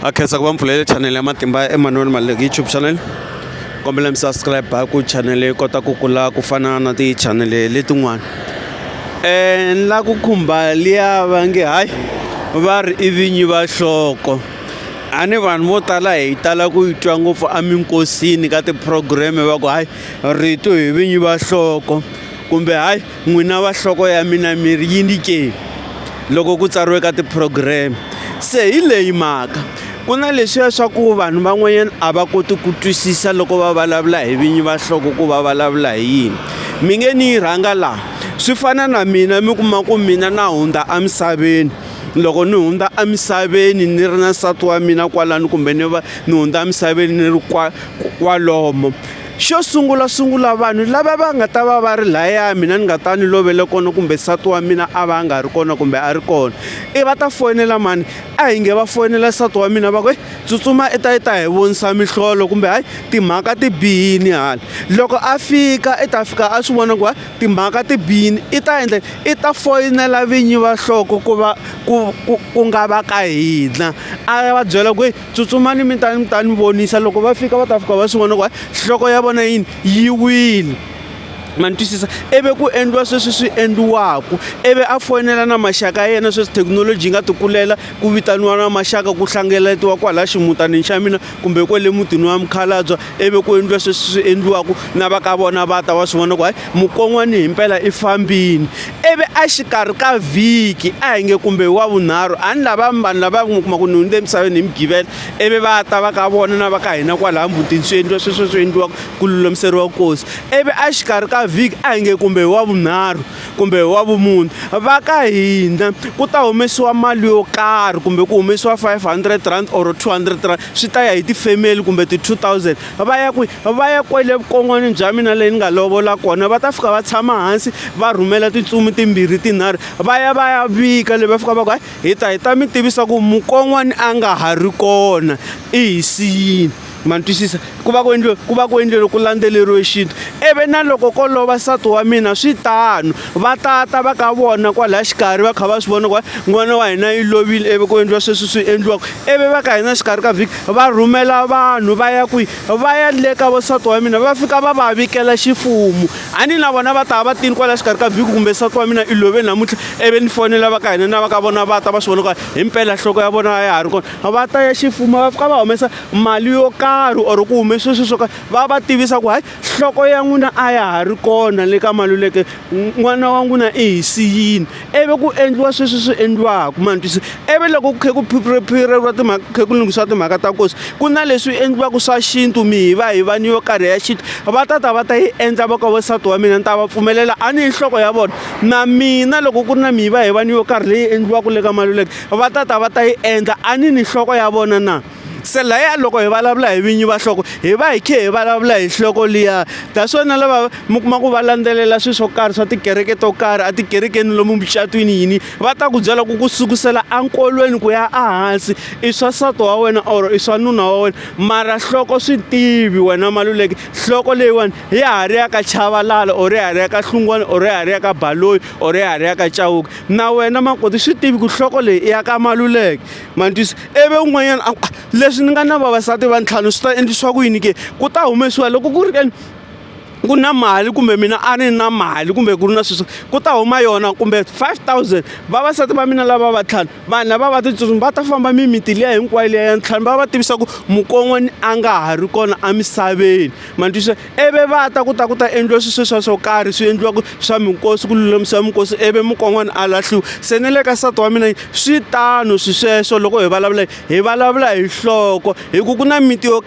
a khensa ku va mpfulele chanele ya matimba ya emmanuel maluleki youtube channel kombela mi subscribe ku chanele yi kota ku kula ku fana na tichanele letin'wana um ni la ku khumba liya va nge hayi va ri i vinyi va hloko a ni vanhu vo tala hi tala ku yi twa ngopfu eminkosini ka ti-program-e va ku hayi rito hi vinyi va hloko kumbe hayi N'wina va nhloko ya mina mi ri yini ke? Loko ku tsariwe ka tiphurogireme. Se hi leyi mhaka, ku na leswiya swa ku vanhu van'wanyana a va koti ku twisisa loko va vulavula hi vinyi va nhloko ku va vulavula hi yini. Mi nge ni yi rhanga laha, swi fana na mina mi kuma ku mina na hundza emisaveni, loko ni hundza emisaveni ni ri na nsati wa mina kwalano kumbe ni va ni hundza emisaveni ni ri kwalomo. Xo sungula sungula vanhu lava va nga ta va va ri laya mina ni nga ta ni lovele kona kumbe nsati wa mina a va a nga ri kona kumbe a ri kona i va ta foyinela mani a hi nge va foyinela nsati wa mina va ku tsutsuma i ta i ta hi vonisa mihlolo kumbe hayi timhaka ti bihini hala loko a fika i ta fika a swi vona ku timhaka ti bihini i ta endla i ta foyinela vinyi va nhloko ku va ku ku ku nga va ka hina a va byela ku tsutsumani mi ta mi ta ni vonisa loko va fika va ta fika va swi vona ku hayi nhloko ya vona yini yi wile ma ni twisisa ivi ku endliwa sweswi swi endliwaka ivi a foyinela na maxaka ya yena sweswi thekinoloji yi nga tikulela ku vitaniwa na maxaka ku hlengeletiwa kwalaya ximutanini xa mina kumbe kwale mutini wa mukhalabye ivi ku endliwa sweswi swi endliwaka na va ka vona va ta va swi vona ku hayi Mukon'wani himpela i fambini ivi a xikarhi ka vhiki a hi nge kumbe wa vunharhu a ni lava vanhu lava mi kuma ku ni hundze emisaveni hi mugivela ivi va ta va ka vona na va ka hina kwalaha mutini swi endliwa sweswo swi endliwaka ku lulamiseriwa nkosi ivi a xikarhi ka vhiki a hi nge kumbe hi wa vunharhu kumbe hi wa vumune va ka hina ku ta humesiwa mali yo karhi kumbe ku humesiwa five hundred rand or two hundred rand swi ta ya hi ti-family kumbe ti-two thousand va ya kwi va ya kwele vukon'wanini bya mina leyi ni nga lovola kona va ta fika va tshama hansi va rhumela tintsumi timbirhi tinharhu va ya va ya vika leyi va fika va ku hayi hi ta hi ta mi tivisa ku mukon'wani a nga ha ri kona i hi siyini ma ni twisisa ku va ku endliwe ku va ku endliwe loko ku landzeleriwe xintu ivi na loko ko lova nsati wa mina swi tano va tata va ka vona kwalaya xikarhi va kha va swi vona ku n'wana wa hina yi lovile ivi ku endliwa sweswi swi endliwaka ivi va ka hina xikarhi ka vhiki va rhumela vanhu va ya kwihi va ya le ka vosati wa mina va fika va va vikela xifumu a ni na vona va ta va tini kwalaya xikarhi ka vhiki kumbe sati wa mina i love namuntlha ivi ni fonela va ka hina na va ka vona va ta va swi vona ku hi mpela nhloko ya vona ya ha ri kona va ta ya xifumu va fika va humesa mali yo karhi or ku hume sweswi swo karhi va va tivisa ku hayi nhloko ya n'wina a ya ha ri kona le ka maluleke n'wana wa n'wina i hi siyini ivi ku endliwa sweswi swi endliwaka ma ni twise ivi loko ku khe ku phiriphireriwa timhaka ku khe ku lunghisiwa timhaka ta nkosi ku na leswi endliwaka swa xintu mi hi va hi va ni yo karhi ya xintu va ta ta va ta yi endla va ka wansati wa mina ni ta va pfumelela a ni hi nhloko ya vona na mina loko ku ri na mi hi va hi va ni yo karhi leyi endliwaka le ka maluleke va ta ta va ta yi endla a ni ni nhloko ya vona na se laya loko hi vulavula hi vinyi va nhloko hi va hi khe hi vulavula hi nhloko liya ta swona lava mi kuma ku va landzelela swilo swo karhi swa tikereke to karhi a tikerekeni lomu mucatwini yini va ta ku byela ku ku sukusela enkolweni ku ya ehansi i swa nsati wa wena or i swa nuna wa wena mara nhloko swi tivi wena maluleki nhloko leyiwani ya ha ri ya ka chavalala or ya ha ri ya ka hlungwana or ya ha ri ya ka baloyi or ya ha ri ya ka chawuka na wena makoti swi tivi ku nhloko leyi i ya ka maluleki Manjus ivi un'wanyana a ku a leswi ni nga na vavasati va ntlhanu swi ta endlisiwa ku yini ke ku ta humesiwa loko ku ri ke ni ku na mali kumbe mina a ni na mali kumbe ku ri na sweswo ku ta huma yona kumbe five thousand vavasati va mina lava va ntlhanu vanhu lava va titsotsi va ta famba mimiti liya hinkwayo liya ya ntlhanu va va tivisa ku mukon'wani a nga ha ri kona emisaveni ma ni twisisa. ivi va ta ku ta ku ta endliwa swilo sweswiya swo karhi swi endliwaka swa minkosi ku lulamisiwa minkosi ivi mukon'wana a lahliwa. Se ni le ka nsati wa mina swi tano swilo sweswo loko hi vulavula hi vulavula hi nhloko hikuva ku na miti yo .